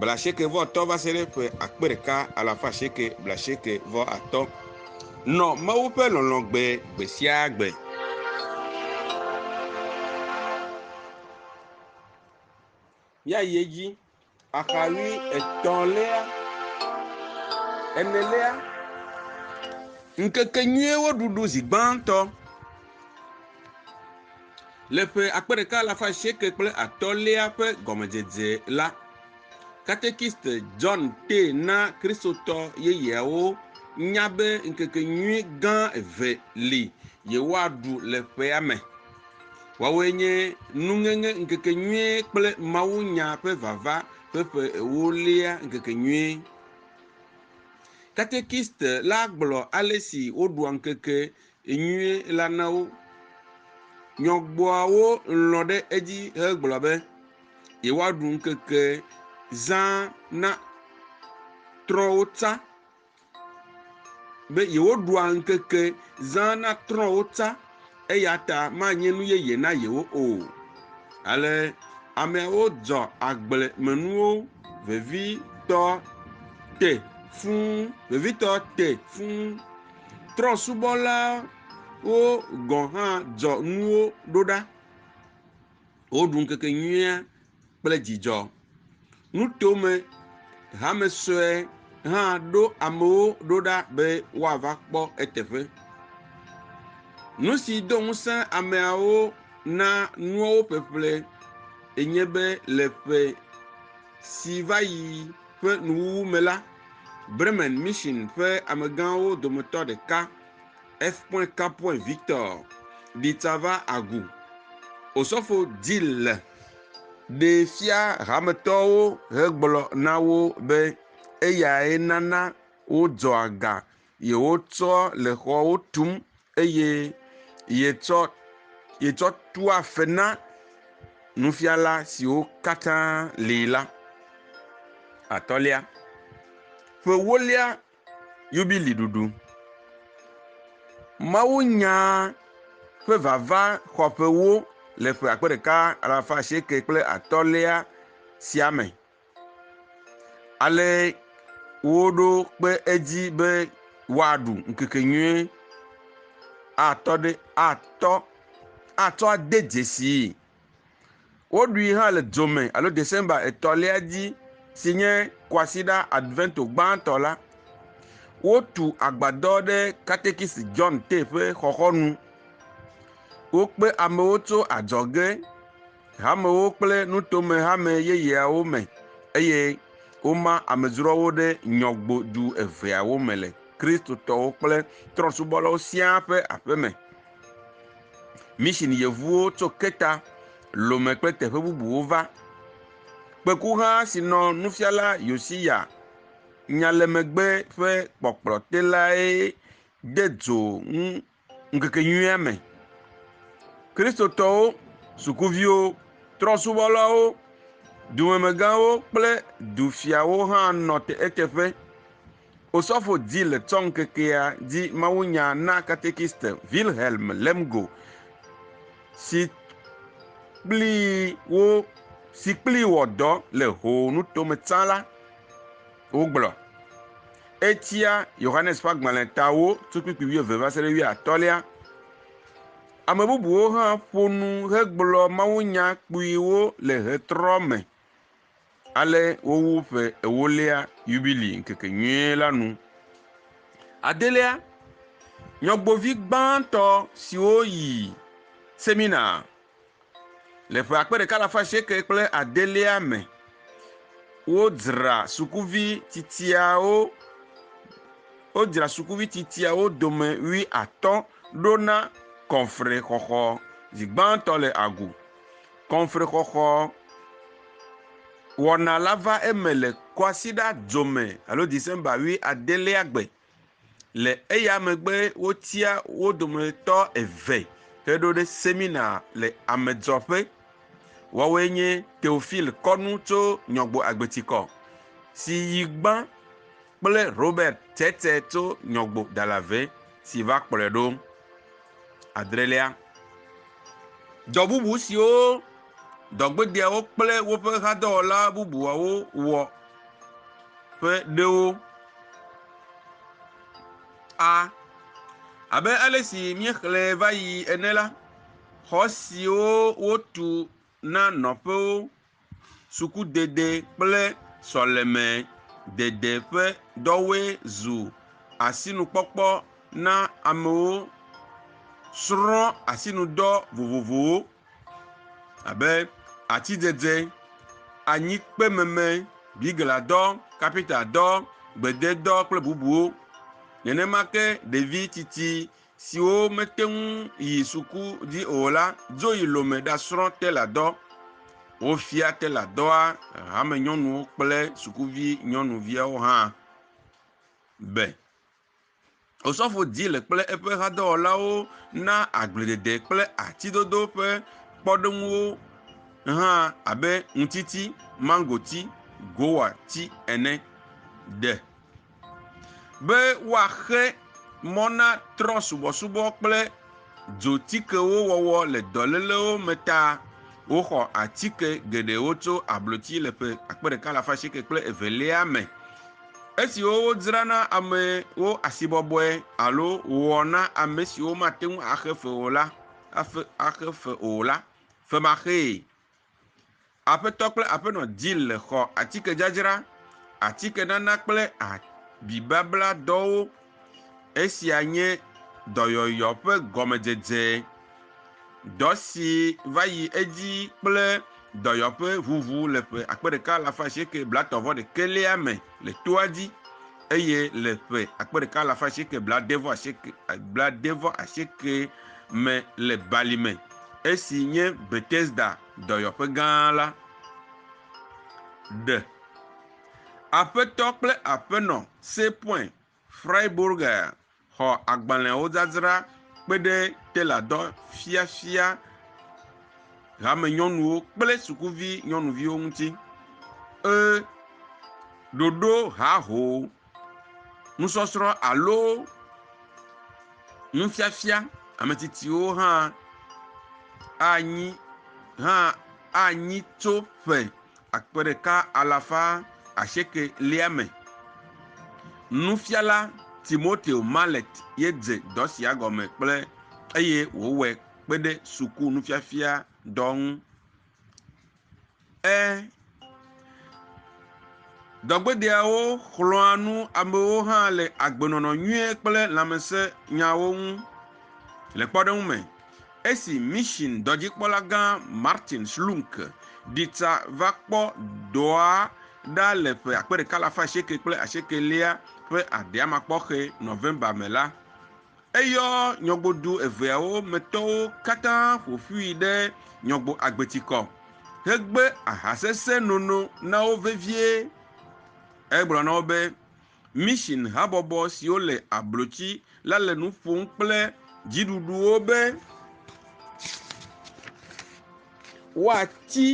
blaasiekɛ-vɔ-atɔ̃ va se ɖe ƒe akpe ɖeka alafa asieke blaasiekɛ-vɔ-atɔ̃. Nɔ Mawu ƒe lɔlɔ̃ gbe gbe sia gbe. Míayi edzi. Axaɣi etɔ̃lia, enelia. Ŋkekenyuiwo ɖuɖu zi gbãtɔ. Le ƒe akpe ɖeka alafa asieke kple atɔ̃lia ƒe gɔmedzedze la, katekist John tee na Kristotɔ yeyeawo nya be ŋkekenyui gã eve li yewoaɖu le ƒea me. Woawoe nye Nuŋeŋe Ŋkekenyuie kple Mawunya ƒe Vava ƒe Ƒe Ewolia Ŋkekenyuie. Katekist la gblɔ ale si woɖua ŋkeke Enyuie la na wo. Nyɔgbɔawo lɔ̃ ɖe edzi hegblɔ be yewoaɖu ŋkeke zã na trɔ̃wo tsã, be yewoɖua ŋkeke zã na trɔ̃wo tsã, eya ta manye nu yeye na yewo o. Ale ameawo dzɔ agblemenuwo vevitɔ te fũu, vevitɔ te fũu Trɔ̃subɔlawo gɔ̃ hã dzɔ nuwo ɖo ɖa. Woɖu ŋkekenyuia kple dzidzɔ. Nutome hame sue hã ɖo amewo ɖo ɖa be woava kpɔ eteƒe. Nu si do ŋusẽ ameawo na nuawo ƒeƒle enye be le ƒe si va yi ƒe nuwuwu me la, Bremen Mission ƒe amegãwo dometɔ ɖeka, F. Capuin Victor di tsava agu Osɔfo Dille ɖee fia hametɔwo hegblɔ na wo be eyae nana wodzɔa ga yewotsɔ le xɔwo tum eye yetsɔ yetsɔ tua fe na nufiala siwo katã li la. Atɔ̃lia, ƒe ewolia yubili ɖuɖu. Mawunya ƒe vava xɔ ƒe ewo le ƒe akpe ɖeka alafa asieke kple atɔ̃lia sia me. Ale woɖo kpe edzi be woaɖu ŋkekenyuie atɔ ɖe atɔ atsɔ ade dzesii. Woɖui hã le dzo me alo December etɔ̃lia dzi si nye kwasiɖa Advento gbãtɔ la. Wotu agbadɔ ɖe katekisi John Tay ƒe xɔxɔnu. Wokpe amewo tso adzɔge. hamewo kple nutomehame yeyeawo me eye woma amedzroawo ɖe nyɔgbodu eveawo me le Kristotɔwo kple trɔ̃subɔlawo siaa ƒe aƒe me. Mission yevuwo tso Keta, Lome kple teƒe bubuwo va. Kpekuha si nɔ nufiala Yosiya nya le megbe ƒe kpɔkplɔte lae de dzo ŋu Ŋkekenyuia me, Kristotɔwo, sukuviwo, trɔ̃subɔlawo, dumemegãwo kple dufiawo hã nɔ eteƒe. Osɔfo Dzill tsɔ ŋkekea dzi mawunya na katekist Wilhelm Lemgo, si kplii wɔ dɔ le Ho nuto me tsã la. wogblɔ. Etia Yohanes ƒe agbalẽ tawo tso kpukpui wuieve va se ɖe wuiatɔ̃lia. Ame bubuwo hã ƒo nu hegblɔ mawunya kpuiwo le ɣetrɔ me ale wowu ƒe ewolia yubili ŋkekenyuie la nu. Adelia, nyɔgbovi gbãtɔ siwo yi semina Le ƒe akpe ɖeka alafa asieke kple adelia me, wodzra sukuvi tsitsiawo wodzra sukuvi tsitsiawo dome wui atɔ̃ ɖo na kɔnfrexɔxɔ. Zi gbãtɔ le agu. Kɔnfrexɔxɔ wɔna la va eme le kwasiɖa dzome alo December wui adelia gbe Le eya megbe wotia wo dometɔ eve heɖo ɖe semina le amedzɔƒe. Woawoe nye Teofil Kɔnu tso Nyɔgbo Agbetikɔ si yi gbã kple Robert Tete tso Nyɔgbo Dalave si va kplɔe ɖo. adrelia. Dɔ bubu siwo dɔgbedeawo kple woƒe hadɔwɔla bubuawo wɔ ƒe ɖewo a. Abe ale si míexlẽe va yi ene la, xɔ siwo wotu na nɔƒewo, sukudede kple sɔlemedede ƒe dɔwoe zu asinukpɔkpɔ na amewo srɔ̃ asinudɔ vovovowo abe atidede, anyikpememe, bigladɔ, kapintadɔ, gbededɔ kple bubuwo. Nenema ke ɖevi tsitsi siwo mete ŋu yi suku dzi o la dzo yi Lome ɖasrɔ̃ teladɔ. Wofia teladɔa hamenyɔnuwo kple sukuvi nyɔnuviawo hã be Osɔfo Dzile kple eƒe hadɔwɔlawo na agbledede kple atidodo ƒe kpɔɖeŋuwo hã abe ŋutiti, mangoti, gowati ene. De. Be woaxe mɔ na trɔ̃subɔsubɔ kple dzotikewo wɔwɔ le dɔlélewo me ta, woxɔ atike geɖewo tso abloti le ƒe akpe ɖeka alafa asieke kple evelia me, esiwo wodzra na amewo asibɔbɔe alo wɔ na ame siwo mate ŋu axe fe o la, axe fe o la, femaxee. Aƒetɔ kple aƒenɔ Jill le xɔ atikedzadzra, atikenana kple abibabla dɔwo. Esia nye dɔyɔyɔ ƒe gɔmedzedze. Dɔ si va yi edzi kple dɔyɔƒeŋuŋu le ƒe akpe ɖeka alafa asieke blaetɔ̃ vɔ ɖekɛlia me le toa dzi. Eye le ƒe akpe ɖeka alafa asieke blaade vɔ asieke blaade vɔ asieke me le balime, esi nye Betesda dɔyɔƒe gã la, ɖe Aƒetɔ kple Aƒenɔ Seepoin Freiburger Xɔ agbalẽwo dzadzra kpe ɖe teladɔ fiafia hamenyɔnuwo kple sukuvi nyɔnuviwo ŋuti. E Ɖoɖo haho nusɔsrɔ̃ alo nufiafia ametsitsiwo hã anyi hã anyi tso ƒe akpe ɖeka alafa asieke lia me. Nufiala Timoteo Mallet ye dze dɔ sia gɔme kple eye wòwɔe kpe ɖe suku nufiafia dɔ ŋu. E Dɔgbedeawo xlɔ̃a nu amewo hã le agbenɔnɔ nyui kple lãmesẽnyawo ŋu. Le kpɔɖeŋu me, Esi Mission dɔdzikpɔla gã Martin Schlunk ɖi tsa va kpɔ dɔa ɖa le ƒe akpe ɖeka alafa asieke kple asiekelia ƒe adeamakpɔxɛ, November, me la, eyɔ nyɔgodu eveawo me tɔwo katã ƒo ƒui ɖe Nyɔgbo Agbetikɔ hegbe ahasesẽ nono na wo vevie. Egblɔ na wo be, Mission habɔbɔ siwo le ablotsi la le nu ƒom kple dziɖuɖuwo be woatsi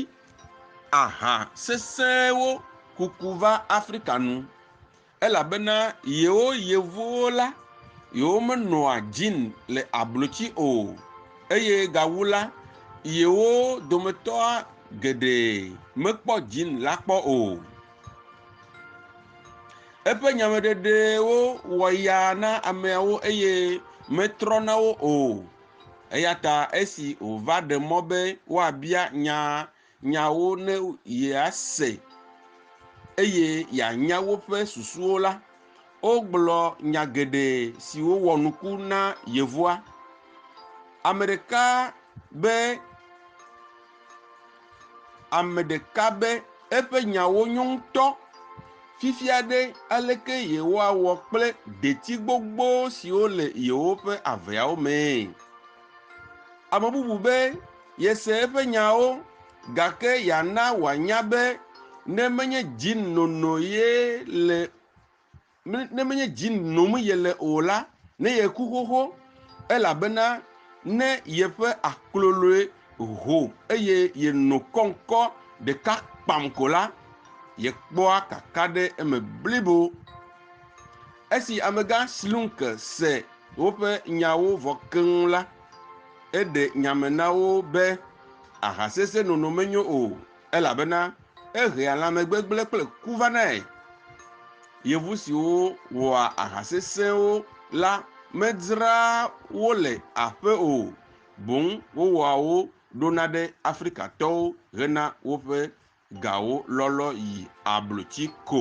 aha sesẽwo kuku va Afrika nu elabena yewo yevuwo la, yewomenɔa gin le ablotsi o eye gawu la, yewo dometɔa geɖe mekpɔ gin la kpɔ o. Eƒe nyameɖeɖewo wɔ ya na ameawo eye metrɔ na wo o. Eya ta esi wòva ɖe mɔ be woabia nya nyawo ne yease eye yeanya woƒe susuwo la, wogblɔ nya geɖe siwo wɔ nuku na yevua. Ame ɖeka be ame ɖeka be eƒe nyawo nyo ŋutɔ. Fifia ɖe, aleke yewoawɔ kple detsi gbogbo siwo le yewoƒe aveawo mee? Ame bubu be yese eƒe nyawo, gake yeana wòanya be ne menye dzi nono ye le Ne menye dzi nom yele o la, ne yeku xoxo, elabena ne yeƒe akloloe ho eye yeno kɔŋkɔ ɖeka kpam ko la, yekpɔa kaka ɖe eme blibo. Esi amegã Slunke se woƒe nyawo vɔ keŋ la, eɖe nya me na wo be, Ahasesẽnono menyo o, Elabena ehea lãmegbegblẽ kple ku vanae. Yevu siwo wɔa aha sesẽwo la medzraa wo le aƒe o, boŋ wowɔa wo ɖona ɖe Afrikatɔwo hena woƒe gawo lɔlɔ yi ablotsi ko.